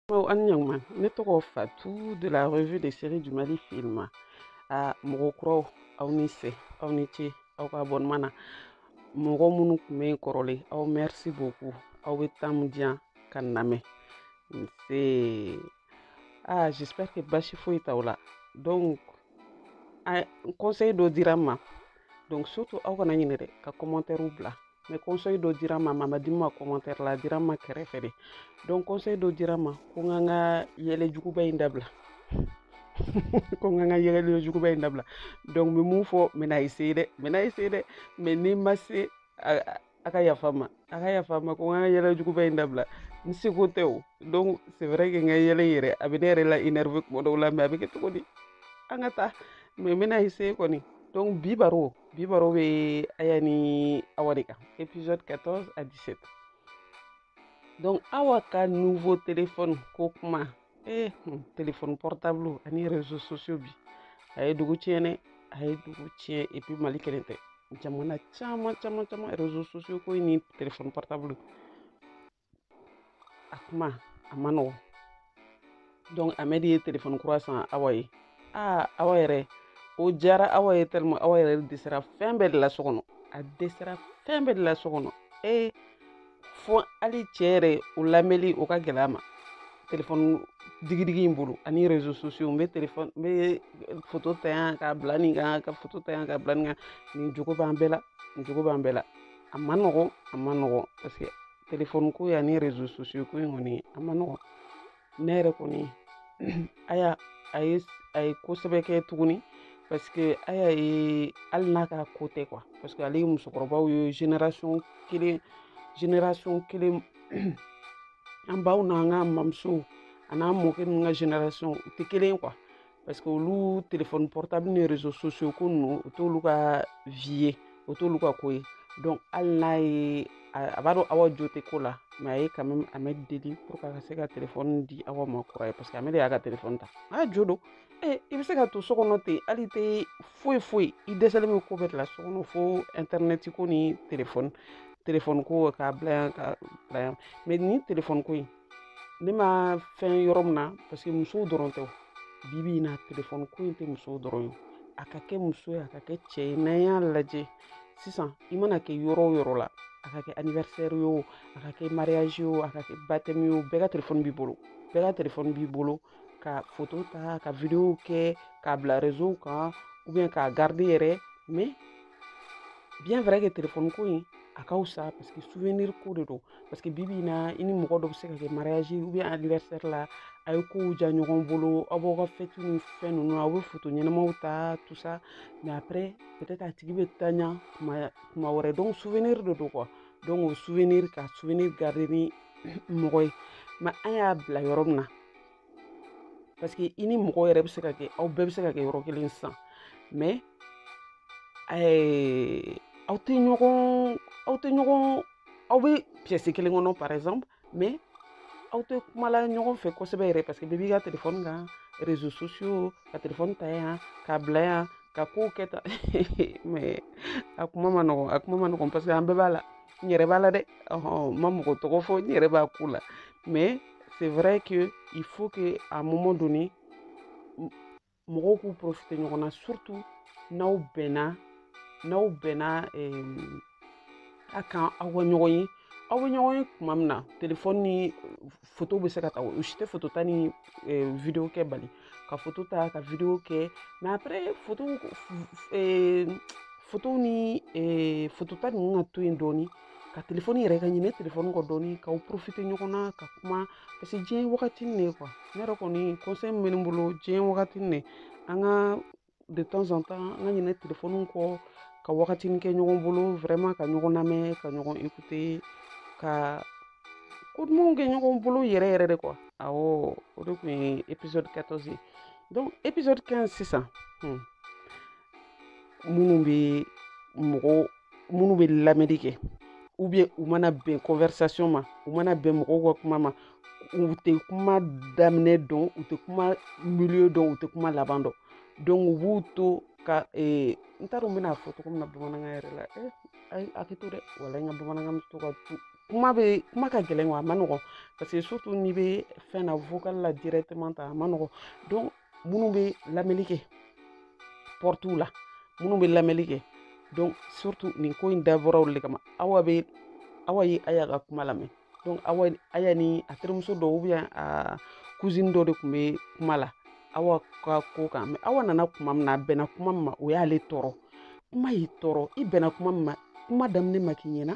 Bon, an ɲaguma ne tɔgɔ fatu de la revue des séries du mali film a mɔgɔ kuraw aw ni sɛ aw ni ce aw ka abonnement na mɔgɔ minnu tun bɛ yen kɔrɔlen aw merci beaucoup aw bɛ temps min di yan ka n lamɛn nse ah j'espère que basi foyi t'aw la donc conseil dɔ dira n ma donc surtout aw kana ɲinɛ dɛ ka commentaires bila mais conseil dɔ dira n ma a ma di n ma commentaire la a dira n ma kɛrɛfɛ de donc conseil dɔ dira n ma ko n ka n ka yɛlɛ juguba in dabila ko n ka n ka yɛlɛ juguba in dabila donc n bɛ mun fɔ n bɛna essayer dɛ n bɛna essayer dɛ mais ni n ma se a ka yafa n ma a ka yafa n ma ko n ka yɛlɛ juguba in dabila n seko tɛ o donc c'est vrai que n ka yɛlɛ yɛrɛ a bɛ ne yɛrɛ la énervé kuma dɔw la mais a bɛ kɛ cogo di an ka taa mais n bɛna essayer kɔni donc bi baro bi baro bɛ aya ni awa de kan épisode 14 à 17 donc awa ka nouveau téléphone ko kuma eh hmm, téléphone portable ani réseaux sociaux bi a ye dugu tiɲɛ dɛ a ye dugu tiɲɛ et puis mali kelen tɛ jamana caman caman caman réseaux sociaux ko ni téléphone portable a kuma a man nɔgɔn donc amɛd ye telefɔni kura san awa ye aa awa yɛrɛ o diyara awa ye tɛlima awa yɛrɛ dɛsɛra fɛn bɛɛ de la so kɔnɔ a dɛsɛra fɛn bɛɛ de la so kɔnɔ ee fo hali cɛ yɛrɛ o lamɛnli o ka gɛlɛn a ma telefɔni digidigi in bolo ani rezo sosiyo n bɛ telefɔni n bɛ foto ta yan k'a bila nin kan ka foto ta yan k'a bila nin kan nin jogo b'an bɛɛ la nin jogo b'an bɛɛ la a man nɔgɔn a man nɔgɔn parce que telefɔni ko in ani rezo sosiyo ko in kɔni a man nɔgɔn ne yɛrɛ kɔni aya a ye a ye ko sɛbɛ kɛ tuguni parce que aya hali n'a ka ko tɛ quoi parce que ale ye musokɔrɔbaw ye génération kelen génération kelen an baw n'an ka mamusow an'an mɔkɛ ninnu ka génération u tɛ kelen ye quoi parce que olu telefɔni portable ni réseaux sociaux ko ninnu o t'olu ka vie ye o t'olu ka ko ye donc hali n'aya b'a dɔn awa jo tɛ ko la mais a ye quand même amɛd deli pour que a ka se ka telefɔni di awa ma kura ye parce que amɛd y'a ka telefɔni ta a jo don e i bɛ se ka to so kɔnɔ ten hali tɛ foyi foyi i dɛsɛlen bɛ ko bɛɛ de la so kɔnɔ fo intɛrnɛti ko ni telefɔni telefɔni ko k'a bila yan k'a bila yan mais nin telefɔni ko in ne ma fɛn yɔrɔ min na parce que musow dɔrɔn tɛ bi bi in na telefɔni ko in tɛ musow dɔrɔn ye a ka kɛ muso ye a ka kɛ cɛ ye n'an y'a lajɛ sisan i mana kɛ yɔrɔ o yɔrɔ la a ka kɛ anniversaire ye o a ka kɛ mariage ye o a ka kɛ baptême ye o bɛɛ ka telefɔni b'i bolo bɛɛ ka telefɔni b'i bolo ka foto ta ka videow kɛ k'a bila réseau kan ou bien k'a garder yɛrɛ mais bien vrai que telefɔni ko in a ka fisa parce que souvenir ko de don parce que bibi in na i ni mɔgɔ dɔ bɛ se ka kɛ mariage ou bien anniversaire la a ye kow diya ɲɔgɔn bolo aw b'aw ka fɛti ni fɛn ninnu aw bɛ foto ɲɛnamaw ta tout ça mais après peut-être a tigi bɛ tanya kuma kuma wɛrɛ donc souvenir de don quoi donc o souvenir ka souvenir garder ni mɔgɔ ye mais an y'a bila yɔrɔ min na parce que i ni mɔgɔ yɛrɛ bɛ se ka kɛ aw bɛɛ bɛ se ka kɛ yɔrɔ kelen sisan mais aw tɛ ɲɔgɔn aw tɛ ɲɔgɔn aw bɛ piyɛsi kelen kɔnɔ par exemple mais aw tɛ kumala ɲɔgɔn fɛ kosɛbɛ yɛrɛ parce que bɛɛ b'i ka telefɔni kan réseaux sociaux ka telefɔni ta yan k'a bila yan ka kow kɛ tan mais a kuma ma nɔgɔn a kuma ma nɔgɔn parce que an bɛɛ b'a la n yɛrɛ b'a la dɛ ɔhɔn n ma mɔgɔ tɔgɔ fɔ n yɛrɛ b'a ko la mais c'est vrai que il faut que à un moment donné mɔgɔw k'u profiter ɲɔgɔn na surtout n'aw bɛnna n'aw bɛnna a kan aw ka ɲɔgɔn ye aw bɛ ɲɔgɔn ye tuma min na telefɔni ni foto bɛ se ka ta o si tɛ foto ta ni video kɛ bali ka foto ta ka video kɛ mais après foto fotow ni foto ta ninnu ka to yen dɔɔnin ka telefɔni yɛrɛ ka ɲinɛ telefɔni kɔ dɔɔni k'aw profiter ɲɔgɔn na ka kuma parce que diɲɛ ye wagatinin de ye quoi ne yɛrɛ kɔni kɔnsɛyi min bɛ ne bolo diɲɛ ye wagatinin de ye an ka de temps en temps an ka ɲinɛ telefɔniw kɔ ka wagatinin kɛ ɲɔgɔn bolo vraiment ka ɲɔgɔn lamɛn ka ɲɔgɔn écouter ka ko dumanw kɛ ɲɔgɔn bolo yɛrɛ yɛrɛ de quoi awɔ o de tun ye épisode 14 ye donc épisode 15 sisan hmm. minnu bɛ mɔgɔw minnu bɛ lamɛnni kɛ u bɛ u mana bɛn conversation ma u mana bɛn mɔgɔw ka kuma ma u tɛ kuma daminɛ dɔn u tɛ kuma milieu dɔn u tɛ kuma laban dɔn donc u b'u to ka ee n t'a dɔn n bɛna fɔ cogo min na bamanankan yɛrɛ la ee a ye hakɛ to dɛ wala n ka bamanankan bɛ to ka tunun kuma bɛɛ kuma ka gɛlɛn wa a ma nɔgɔn parce que surtout n'i bɛ fɛn na vocal la directement tan a ma nɔgɔn donc minnu bɛ lamɛnni kɛ pɔrɔtuw la minnu bɛ lamɛnni kɛ donc surtout nin ko in dabɔra aw de kama awa bɛ awa ye aya ka kuma lamɛn donc awa aya ni a terimuso dɔ ou bien a kuzini dɔ de tun bɛ kuma la awa ka ko kan mais awa nana kuma min na a bɛnna kuma min ma o y'ale tɔɔrɔ kuma y'i tɔɔrɔ i bɛnna kuma min ma kuma daminɛ ma k'i ɲɛna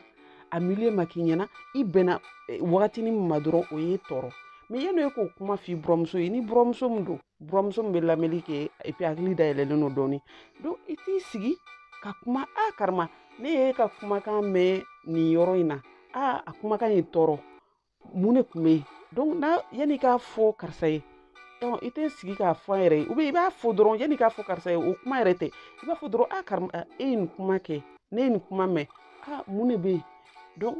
a milieu ma k'i ɲɛna i bɛnna eh, wagatinin min ma dɔrɔn o y'i tɔɔrɔ mais yanni e k'o kuma f'i buramuso ye ni buramuso min don buramuso min bɛ lamɛnni kɛ et puis hakili dayɛlɛlen don dɔɔni donc i t'i sigi ka kuma a karima ne y'i ka kumakan mɛn nin yɔrɔ in na a a kumakan ye n tɔɔrɔ mun de kun be yen donc n'a yan'i k'a fɔ karisa ye dɔn i tɛ sigi k'a fɔ a yɛrɛ ye ou bien i b'a fɔ dɔrɔn yan'i k'a fɔ karisa ye o kuma yɛrɛ tɛ i b'a fɔ dɔrɔn a kari e ye nin kuma kɛ ne ye nin kuma mɛn a mun de be yen donc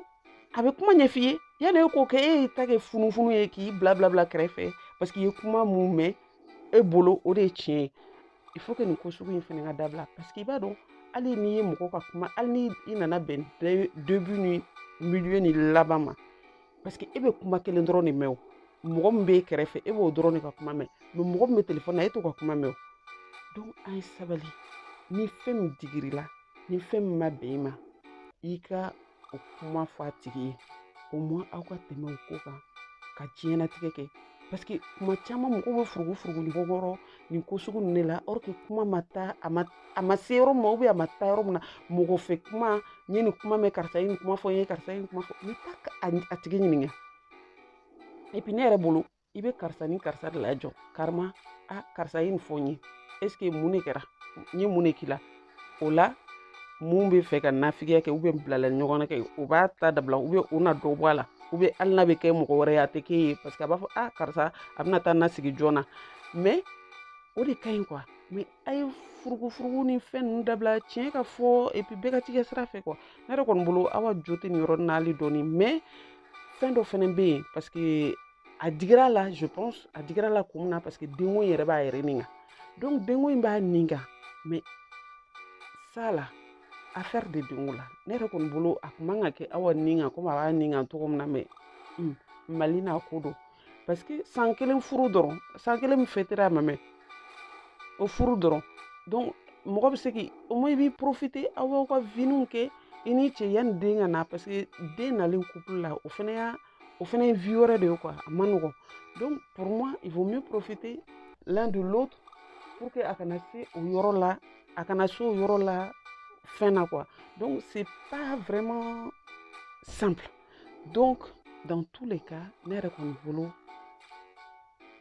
a bɛ kuma ɲɛf'i ye yanni e k'o kɛ e y'i ta kɛ funufunu ye k'i bila bila bila kɛrɛfɛ parce que i ye kuma min mɛn e bolo o de ye tiɲɛ ye il faut nin ko sugu in fana ka dabila parce que i b'a dɔn hali n'i ye mɔgɔ ka kuma hali ni i nana bɛn début ni milieu ni laban ma parce que e bɛ kuma kelen dɔrɔn de mɛn o mɔgɔ min b'e kɛrɛfɛ e b'o dɔrɔn de ka kuma mɛn mais mɔgɔ min bɛ telefɔni na e t'o ka kuma mɛn o donc an ye sabali ni fɛn min digir'i la ni fɛn min ma bɛn i ma i ka o kuma fɔ a tigi ye au moins aw ka tɛmɛ o ko kan ka diɲɛnatigɛ kɛ parce que kuma caman mɔgɔw bɛ furugu furugu ɲɔgɔn kɔrɔ nin ko sugu ninnu de la or que kuma ma taa a ma a ma se yɔrɔ ma a ma taa yɔrɔ min na mɔgɔ fɛ kuma n ye nin kuma mɛn karisa ye nin kuma fɔ n ye karisa ye nin kuma fɔ n bɛ taa a tigi ɲininka et puis ne yɛrɛ bolo i bɛ karisa ni karisa de lajɔ carrément a karisa ye nin fɔ n ye est-ce que mun de kɛra n ye mun de k'i la o la min b'a fɛ ka nafigiya kɛ ou bien bilali ɲɔgɔn na kɛ o b'a ta dabila ou bien o na dɔ bɔ a la ou bien hali n'a bɛ kɛ mɔgɔ wɛrɛ ye a tɛ k'e ye parce que a b'a fɔ a karisa a bɛna taa an sigi ɲɔgɔn na mais o de ka ɲi quoi mais a ye furugufurugu ni fɛn ninnu dabila tiɲɛ ka fɔ et puis bɛɛ ka t'i ka sira fɛ quoi ne yɛrɛ kɔni bolo aw ka jo tɛ nin yɔrɔ na hali dɔɔni mais fɛn dɔ fɛnɛ bɛ yen parce que a digir'a la je pense a digir'a la kun min na parce que denko in yɛrɛ b'a yɛrɛ nin kan donc denko in b'a nin kan mais sa la affaire de denko la ne yɛrɛ kɔni bolo a kun man ka kɛ awa nin kan comme a b'a nin kan cogo min na mais mali n'a ko don parce que san kelen furu dɔrɔn san kelen min fɛtera a ma mɛn o furu dɔrɔn donc mɔgɔ bɛ se k'i au moins i b'i profiter aw b'aw ka viniw kɛ i ni cɛ yanni den ka na parce que den nalen couple la o fana y'a o fana ye vie wɛrɛ de ye quoi a man nɔgɔn donc pour moi il vaut mieux profiter l'un de l'autre pour que a kana se o yɔrɔ la a kana se o yɔrɔ la fɛn na quoi donc c'est pas vraiment simple donc dans tous les cas ne yɛrɛ kɔni bolo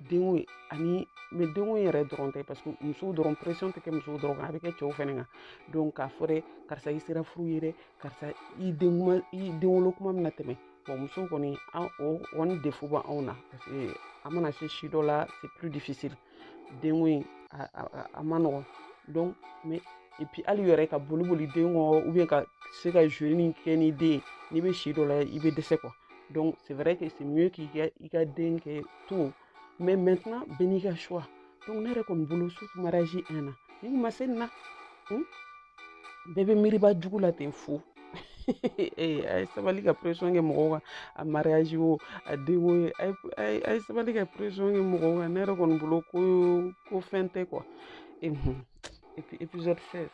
denko ye ani mais denko in yɛrɛ dɔrɔn tɛ parce que musow dɔrɔn pression tɛ kɛ musow dɔrɔn kan a bɛ kɛ cɛw fɛnɛ kan donc k'a fɔ dɛ karisa i sera furu ye dɛ karisa i den kuma i denwolo kuma bɛna tɛmɛ bon musow kɔni an o kɔni défaut b'anw na parce que an mana se si dɔ la c'est plus difficile denko in a man nɔgɔn donc mais et puis hali yɛrɛ ka boli boli den kɔ ou bien ka se ka jouer min kɛ ni den ye n'i bɛ si dɔ la i bɛ dɛsɛ quoi donc c'est vrai que c'est mieux k'i ka i ka den kɛ tôt mais maintenant bɛɛ n'i ka choix donc ne yɛrɛ kɔni bolo surtout mariage un an ni ma se nin na bɛɛ bɛ miiriba jugu la ten fo ee a ye sabali ka pression kɛ mɔgɔw kan a mariage o a denko o a ye sabali ka pression kɛ mɔgɔw kan ne yɛrɛ kɔni bolo ko ko fɛn tɛ quoi et puis épisode 16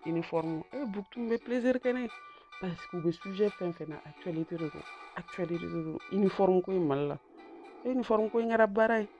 uniforme e eh, buktu bɛ plaisir kɛ ne ye parce que u bɛ sujet fɛn fɛn ta actualité de don actualité de don uniforme ko in mali la uniforme ko in kɛra baara ye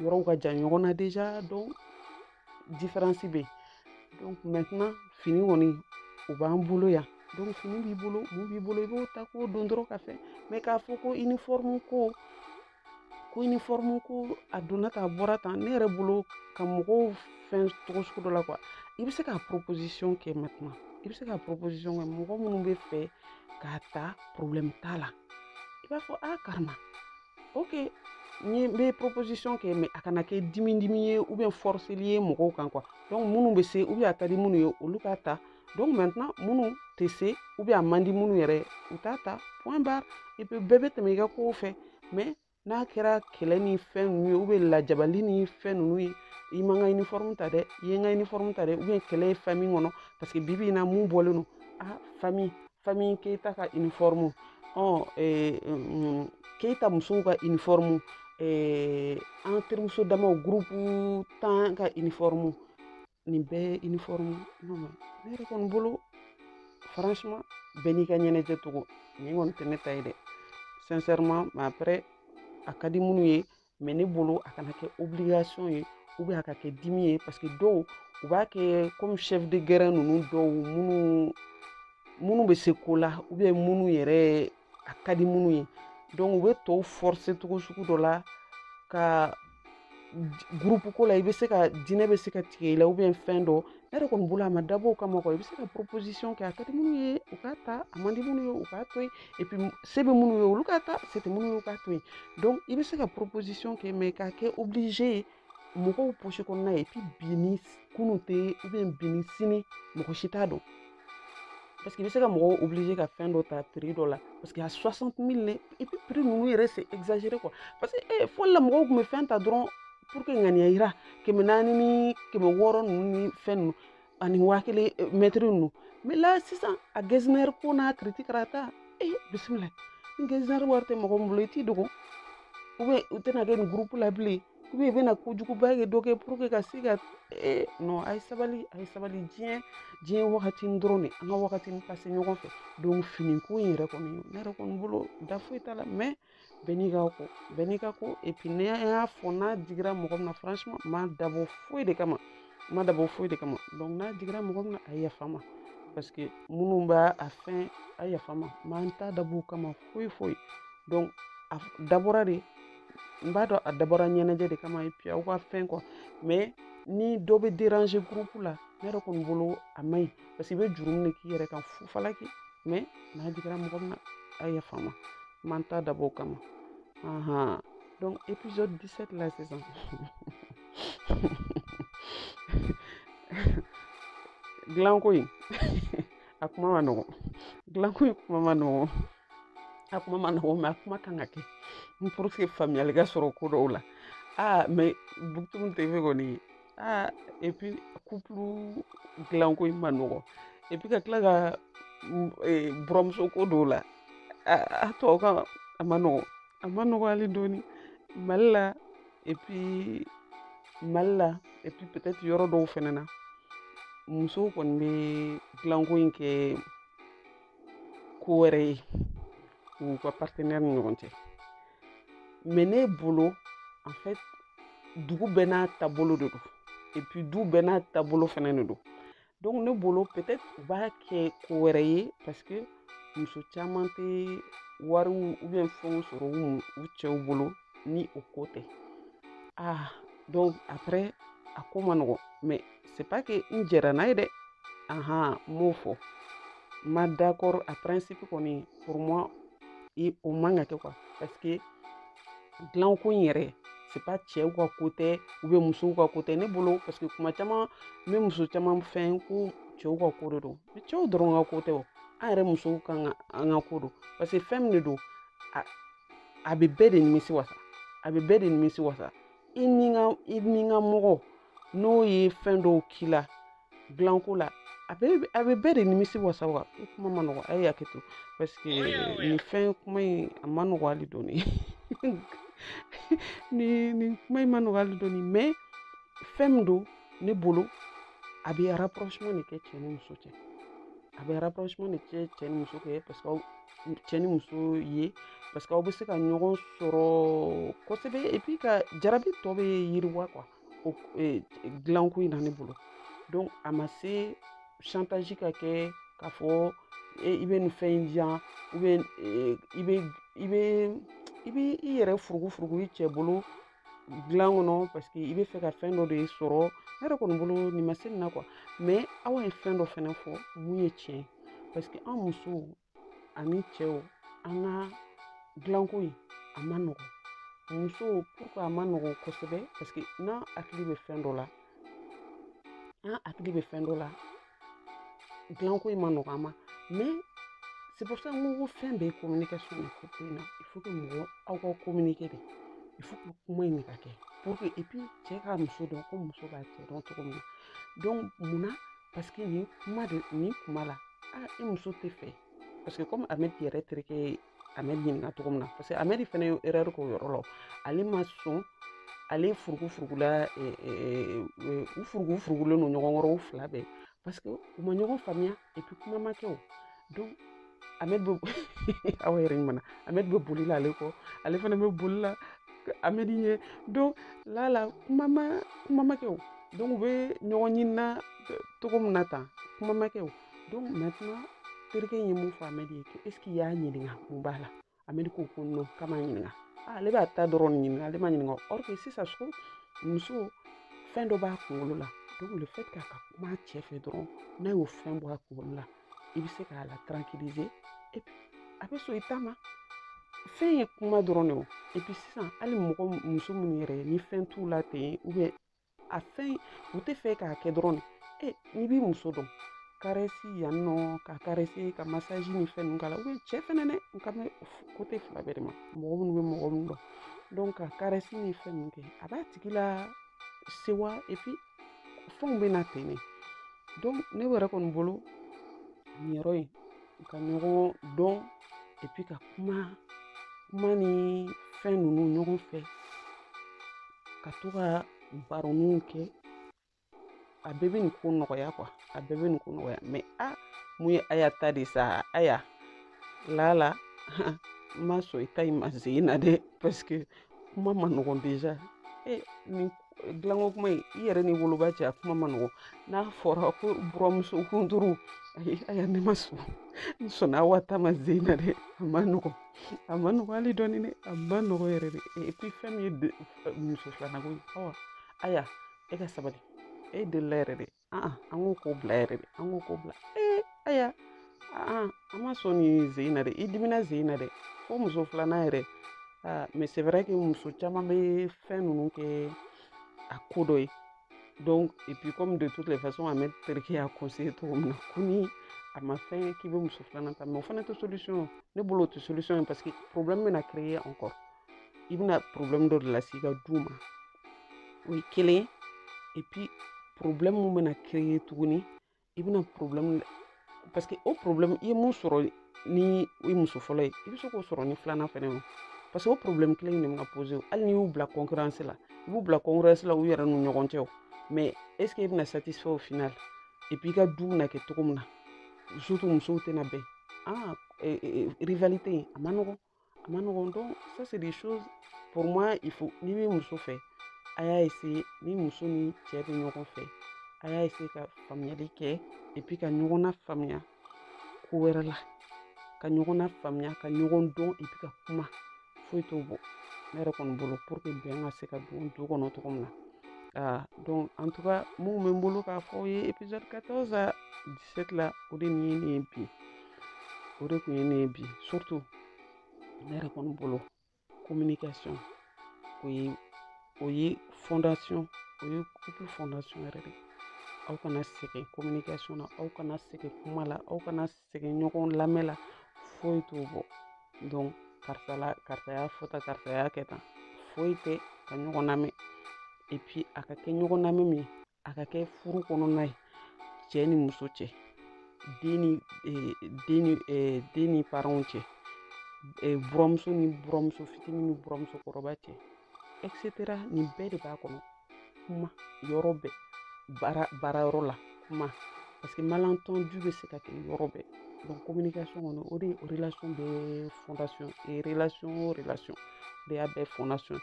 yɔrɔw ka jan ɲɔgɔn na déjà donc différence bɛ yen donc maintenant fini kɔni o b'an bolo yan donc fini b'i bolo mun b'i bolo i b'o ta k'o don dɔrɔn ka fɛn mais k'a fɔ ko uniforme ko ko uniforme ko a donna tan a bɔra tan ne yɛrɛ bolo ka mɔgɔw fɛn cogo sugu dɔ la quoi i bɛ se ka proposition kɛ maintenant i bɛ se ka proposition kɛ mɔgɔ minnu b'a fɛ k'a ta problème t'a la i b'a fɔ a carrément ok n ye n bɛ proposition kɛ mais a kana kɛ dimi dimi ye ou bien forceli ye mɔgɔw kan quoi donc minnu bɛ se ou bien a ka di minnu ye olu k'a ta donc maintenant minnu tɛ se ou bien a man di minnu yɛrɛ u t'a ta point barre et puis bɛɛ bɛ tɛmɛ i ka kow fɛ mais n'a kɛra kɛlɛ ni fɛn ninnu ye ou bien lajabali ni fɛn ninnu ye i ma n ka uniforme ta dɛ i ye n ka uniforme ta dɛ ou bien kɛlɛ ye famille kɔnɔ parce que bibi in na mun bɔlen don ah famille famille keyita ka uniforme ɔn eh, mm, keyita musow ka uniforme eh, an terimuso damaw groupe tan ka uniforme nin bɛɛ ye uniforme non mais ne yɛrɛ kɔni bolo franchement bɛɛ n'i ka ɲɛnajɛ cogo nin kɔni tɛ ne ta ye dɛ sincèrement mais après a ka di minnu ye mais ne bolo a kana kɛ obligation ye ou bien a ka kɛ dimi ye parce que dɔw u b'a kɛ komi chef de guerre ninnu dɔw minnu minnu bɛ se ko la ou bien minnu yɛrɛ a ka di minnu ye donc u bɛ tɔw forcer cogo sugu dɔ la ka groupe ko la i bɛ se ka dîner bɛ se ka tigɛ i la ou bien fɛn dɔ ne yɛrɛ kɔni bolo a ma dabɔ o kama quoi i bɛ se ka proposition kɛ a ka di minnu ye u k'a ta a man di minnu ye u k'a to yen et puis se bɛ minnu ye olu k'a ta se tɛ minnu ye u k'a to yen donc i bɛ se ka proposition kɛ mais k'a kɛ obligé ye mɔgɔw poche kɔnɔna ye et puis bi ni kunun tɛ ou bien bi ni sini mɔgɔ si t'a dɔn parce que i bɛ se ka mɔgɔw obliger ka fɛn dɔ ta prix dɔ la parce que a 60 000 ne et puis prix ninnu yɛrɛ c'est exagéré quoi parce que eh, fɔlɔ la mɔgɔw tun bɛ fɛn ta dɔrɔn pour ka ŋaniya jira kɛmɛ naani ni kɛmɛ wɔɔrɔ ninnu ni fɛn ninnu ani waa kelen eh, mɛtiri ninnu mais là sisan a getzner ko n'a kiriti kɛra ta eh bisimila ni getzner wari tɛ mɔgɔ min bolo i t'i dogo ou bien u tɛna kɛ nin groupe la bilen i bɛ i bɛna kojuguba kɛ dɔ kɛ pour que ka se ka ee non a ye sabali a ye sabali diɲɛ diɲɛ wagati dɔrɔn de an ka wagati pase ɲɔgɔn fɛ donc fini ko in yɛrɛ kɔni ne yɛrɛ kɔni bolo da foyi t'a la mais bɛɛ n'i ka ko bɛɛ n'i ka ko et puis ne y'a fɔ n'a digira mɔgɔ min na franchement ma dabɔ foyi de kama ma dabɔ foyi de kama donc n'a digira mɔgɔ min na a yafa ma parce que minnu b'a a fɛn a yafa ma m'an t'a dab'o kama foyi foyi donc a dabɔra de n b'a dɔn a dabɔra ɲɛnajɛ de kama et puis aw ka fɛn ko mais ni dɔ bɛ déranger groupe la ne yɛrɛ kɔni bolo a ma ɲi parce que i bɛ jurumu de k'i yɛrɛ kan fu falaki mais n'a digira mɔgɔ min na a yafa ma m'an t'a dabɔ o kama ahan donc épisode 17 la sisan dilanko in a kuma ma nɔgɔn dilanko in kuma ma nɔgɔn a kuma ma nɔgɔ mais a kuma kan ka kɛ n pour que faamuyali ka sɔrɔ ko dɔw la aa mais bukutunu tɛ fɛ kɔni aa et puis couple dilanko in ma nɔgɔ et puis ka tila ka buranmuso ko dɔw la a tɔw kan a ma nɔgɔ a ma nɔgɔ hali dɔɔni mali la et puis mali la et puis peut-être yɔrɔ dɔw fɛnɛ na musow kɔni bɛ dilanko in kɛ ko wɛrɛ ye u ka partenaire ni ɲɔgɔn cɛ mais ne bolo en fait dugu bɛɛ n'a taabolo de don et puis du bɛɛ n'a taabolo fɛnɛ de don donc ne bolo peut-être u b'a kɛ ko wɛrɛ ye parce que muso caman tɛ wariw ou bien fɛnw sɔrɔ u cɛw bolo ni o ko tɛ ah donc après a ko ma nɔgɔn mais c'est pas que n jɛnna n'a ye dɛ ahan n m'o fɔ n ma d'accord a principe kɔni pour moi i o man ka kɛ quoi parce que dilanko in yɛrɛ c'est pas cɛw ka ko tɛ ou bien musow ka ko tɛ ne bolo parce que tuma caman n bɛ muso caman mɛn ko cɛw ka ko de don mais cɛw dɔrɔn ka ko tɛ o an yɛrɛ musow kan ka an ka ko don parce que fɛn min de don a a bɛ bɛɛ de nimisi wasa a bɛ bɛɛ de nimisi wasa i n'i ka i n'i ka mɔgɔ n'o ye fɛn dɔw k'i la dilanko la a bɛ a bɛ bɛɛ de nimisi wasa wa a kuma ma nɔgɔ a ye hakɛ to parce que nin fɛn kuma in a ma nɔgɔ hali dɔɔni nin nin kuma in ma nɔgɔ hali dɔɔni mais fɛn min don ne bolo a bɛ rapprochement de kɛ cɛ ni muso cɛ a bɛ rapprochement de kɛ cɛ ni muso cɛ parce que cɛ ni muso ye parce que aw bɛ se ka ɲɔgɔn sɔrɔ kosɛbɛ et puis ka jarabi tɔ bɛ yiriwa quoi o e, dilanko in na ne bolo donc a ma se chantage ka kɛ k'a fɔ e, i bɛ nin fɛn in di yan e, i bɛ i bɛ i bɛ i yɛrɛ furugufurugu i cɛ bolo dilan kɔnɔ parce que i b'a fɛ ka fɛn dɔ de sɔrɔ ne yɛrɛ kɔni bolo nin ma se nin na quoi mais aw ye fɛn dɔ fɛnɛ fɔ min ye tiɲɛ parce que an musow ani cɛw an ka dilanko in a man nɔgɔn musow pourquoi a man nɔgɔn kosɛbɛ parce que n'an hakili bɛ fɛn dɔ la n'an hakili bɛ fɛn dɔ la dilanko in man nɔgɔ an ma mais c'est pour ça n ko ko fɛn bɛɛ ye communication de ko ko in na il faut que mɔgɔ aw ka communiquer de il faut que kuma in de ka kɛ pour que et puis cɛ ka muso dɔn ko muso b'a cɛ dɔn cogo min na donc mun na parce que nin kuma de nin kuma la ah i muso t'a fɛ parce que comme amɛdi yɛrɛ terikɛ ye amɛdi ɲininka cogo min na parce que amɛdi fɛnɛ ye erreur k'o yɔrɔ la ale ma sɔn ale furugu furugula u furugu furugulen don ɲɔgɔn kɔrɔ u fila bɛɛ parce que u ma ɲɔgɔn faamuya et puis kuma ma kɛ o donc amɛdi bɛ aw yɛrɛ ɲumanna amɛdi bɛ boli la ale kɔ ale fana bɛ boli la amɛdi ɲɛ donc lala kuma ma kuma ma kɛ o donc u bɛ ɲɔgɔn ɲinina cogo min na tan kuma ma kɛ o donc maintenant terikɛ in ye mun fɔ amɛdi ye ko est ce que i y'a ɲininka mun b'a la amɛdi ko ko non k'a m'a ɲininka ah, ale b'a ta dɔrɔn ɲini nka ale m'a ɲininka or que sisan so muso fɛn dɔ b'a kunkolo la donc le fait k'a ka kuma a cɛ fɛ dɔrɔn n'a y'o fɛn bɔ a kunkolo la i bɛ se k'a la tranquilliser et puis a bɛ sɔn i ta ma fɛn ye kuma dɔrɔn de o et puis sisan hali mɔgɔ muso minnu yɛrɛ ni fɛn t'u la ten ou bien a fɛn u t'a fɛ k'a kɛ dɔrɔn de n'i b'i muso dɔn karɛsi yan nɔ ka karɛsi ka masaji ni fɛn ninnu k'a la cɛ fɛnɛ dɛ n kan bɛ côté fila bɛɛ de ma mɔgɔ min bɛ mɔgɔ min dɔn donc ka karɛsi ni fɛn ninnu kɛ a b'a tigi lasewa et puis fɛnw bɛ na ten de donc ne yɛrɛ kɔni bolo nin yɔrɔ in u ka ɲɔgɔn dɔn et puis ka kuma kuma ni fɛn ninnu ɲɔgɔn fɛ ka to ka baroniw kɛ a bɛɛ bɛ nin ko nɔgɔya quoi a bɛɛ bɛ nin ko nɔgɔya mais a min ye aya ta de sa aya lala n ma sɔn i ta in ma sen in na dɛ parce que kuma man nɔgɔn déjà e nin dilanko kuma in i yɛrɛ ni woloba cɛ a kuma man nɔgɔ n'a fɔra ko buranmuso kunturu ayi aya ne ma sɔn n sɔnna awa ta ma sen in na dɛ a man nɔgɔ a man nɔgɔ hali dɔɔni dɛ a man nɔgɔ yɛrɛ de et puis fɛn min ye muso filanako ye awa aya e ka sabali e delila yɛrɛ de an k'o ko bila yɛrɛ de an k'o ko bila ee aya an ma sɔn nin jeu in na dɛ i dimina jeu in na dɛ fo muso filanan yɛrɛ mais c'est vrai que muso caman bɛ fɛn ninnu kɛ a ko dɔ ye donc et puis comme de toutes les façons an bɛ terikɛ y'a conseiller cogo min na ko ni a ma fɛn k'i bɛ muso filanan ta mais o fana tɛ solution ne bolo o tɛ solution ye parce que problème bɛna créer encore i bɛna problème dɔ de lase i ka du ma o ye kelen ye et puis problème mun bɛna créer tuguni i bɛna problème parce que o problème i ye mun sɔrɔ ni i muso fɔlɔ ye i bɛ se k'o sɔrɔ ni filanan fɛnɛ ye parce que o problème kelen in de bɛna poser hali n'i y'u bila concurrence la i b'u bila concurrence la u yɛrɛ n'u ɲɔgɔn cɛ o mais est ce que i bɛna satisfait au final et puis i ka du bɛna kɛ cogo min na surtout musow tɛna bɛn ah rivalité in a ma nɔgɔn a ma nɔgɔn dɔn ça c'est des choses pour moi il faut n'i bɛ muso fɛ a y'a essayer ni muso ni cɛ bɛ ɲɔgɔn fɛ a y'a essayer ka faamuyali kɛ et puis ka ɲɔgɔn na faamuya ko wɛrɛ la ka ɲɔgɔn na faamuya ka ɲɔgɔn dɔn et puis ka kuma foyi t'o bɔ ne yɛrɛ kɔni bolo pour que bɛn ka se ka don du kɔnɔ cogo min na Ah, donc en tout cas min bɛ n bolo k'a fɔ aw ye épisode 14 à 17 la o de tun ye nin ye bi o de tun ye nin ye bi surtout ne yɛrɛ kɔni bolo communication o ye o ye fondation o ye couple fondation yɛrɛ de ye aw kana sɛgɛn communication na aw kana sɛgɛn kuma la aw kana sɛgɛn ɲɔgɔn lamɛn la foyi t'o bɔ donc karisa la karisa y'a fɔ tan karisa y'a kɛ tan foyi tɛ ka ɲɔgɔn lamɛn et puis a ka kɛ ɲɔgɔn lamɛn min ye a ka kɛ furu kɔnɔna ye cɛ ni muso cɛ den ni eh, den ni eh, den ni parents cɛ eh, buranmuso ni buranmuso fitini ni buranmuso kɔrɔba cɛ etc nin bɛɛ de b'a kɔnɔ kuma yɔrɔ bɛɛ baara baara yɔrɔ la kuma parce que malentendu bɛ se ka kɛ yɔrɔ bɛɛ donc communication kɔni o de ye o relation bɛɛ fondation ye relation o relation de y'a bɛɛ fondation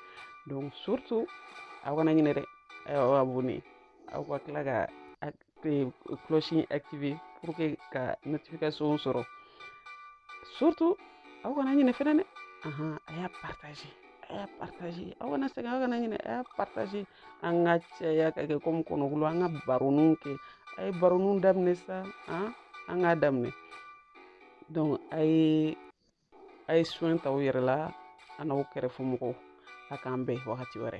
donc surtout aw kana ɲinɛ dɛ aw abonné aw ka tila ka cloche in activer pour que ka notification sɔrɔ surtout aw kana ɲinɛ fɛnɛ dɛ ahan a y'a partager a y'a partager aw kana sɛgɛn aw kana ɲinɛ a y'a partager an ka caya ka kɛ comme kɔnɔkulu an ka baroninw kɛ a ye baroninw daminɛ sa an k'a daminɛ donc a ye a ye soin ta aw yɛrɛ la an'aw kɛrɛfɛ mɔgɔw a k'an bɛn wagati wɛrɛ